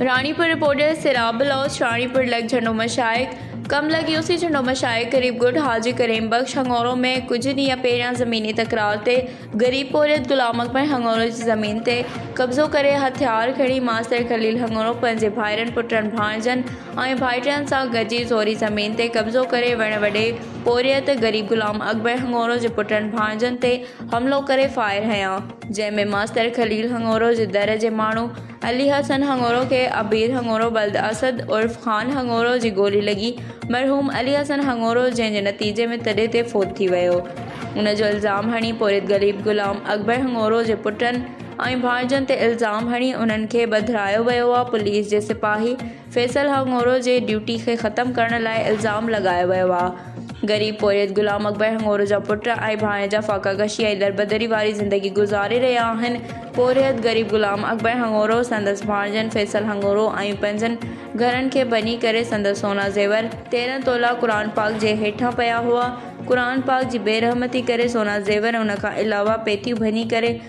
Ranipur, reporter, Sirab Baloch, Ranipur لڳ جهنڊو مشائخ ڪم لڳ يوسي جهنڊو مشائخ غريب ڳوٺ حاجي ڪريم بخش هڱورو ۾ ڪجهه ڏينهن پهريان زميني تڪرار تي غريب پورهيت غلام اڪبر هڱورو جي زمين تي قبضو ڪري هٿيار کڻي ماستر خليل هڱورو پنهنجي ڀائرن پٽن ڀاڻيجن ۽ ڀائٽين سان گڏجي زوري زمين تي قبضو ڪري وڻ وڍي پورهيت غريب غلام اڪبر هڱورو جي پٽن ڀاڻيجن تي حملو ڪري فائر هنيا جنهن ۾ ماستر خليل هڱورو جي در جي ماڻهو علي حسن هڱورو کي عبير هڱورو ولد اسد عرف خان هڱورو جي گولي لڳي، مرحوم علي حسن هڱورو جنهن جي نتيجي ۾ تڏي تي فوت ٿي ويو. ان جو الزام هڻي پورهيت غليب غلام اڪبر هڱورو جي پٽن ۽ ڀانئجن تي الزام هڻي انهن کي ٻڌرايو ويو آ پوليس جي سپاهي فيصل هاء هڱورو جي ڊيوٽي کي ختم ڪرڻ لاء الزام لڳايو ويو آ. غريب پورهيت غلام اڪبر هڱورو جا پٽ ۽ ڀاڻيجا فاقه ڪشي ۽ دربدري واري زندگي گذاري رهيا آهن. پورهيت غريب غلام اڪبر هڱورو، سندس ڀاڻيجن فيصل هڱورو ۽ پنهنجن گهرن کي ڀڃي ڪري سندس سونا زيور، تيرهن تولا قرآن پاڪ جي هيٺان پيا هئا، قرآن پاڪ جي بي رحمتي ڪري سونا زيور ۽ ان کان علاوه پيتيون ڀڃي ڪري،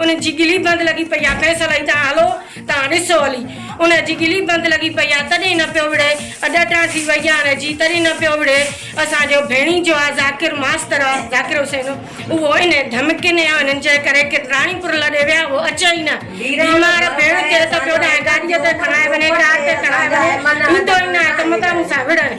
ان جي ڳلي بند لڳي پئي آ کيس الائي تان هلو تان ڏسو هلي ان جي ڳلي بند لڳي پئي آ تڏهن نه پيو وڙهي اڏٽان ٿي وئي آ ان جي تڏهن نه پيو وڙهي اسان جو ڀيڻي جو آ ذاڪر ماستر آ ذاڪر حسين اهو ان ڌمڪين يا انهن جي ڪري ڪرٽراڻي پور لڏي ويا اهو اچي ئي نه بيمار ڀيڻ ٿئي ته پيو ڏانهن گاڏي تي کڻائي وڃي ڪار تي کڻائي وڃي ايندو ئي نه آهي ته متان مون سان وڙهڻ.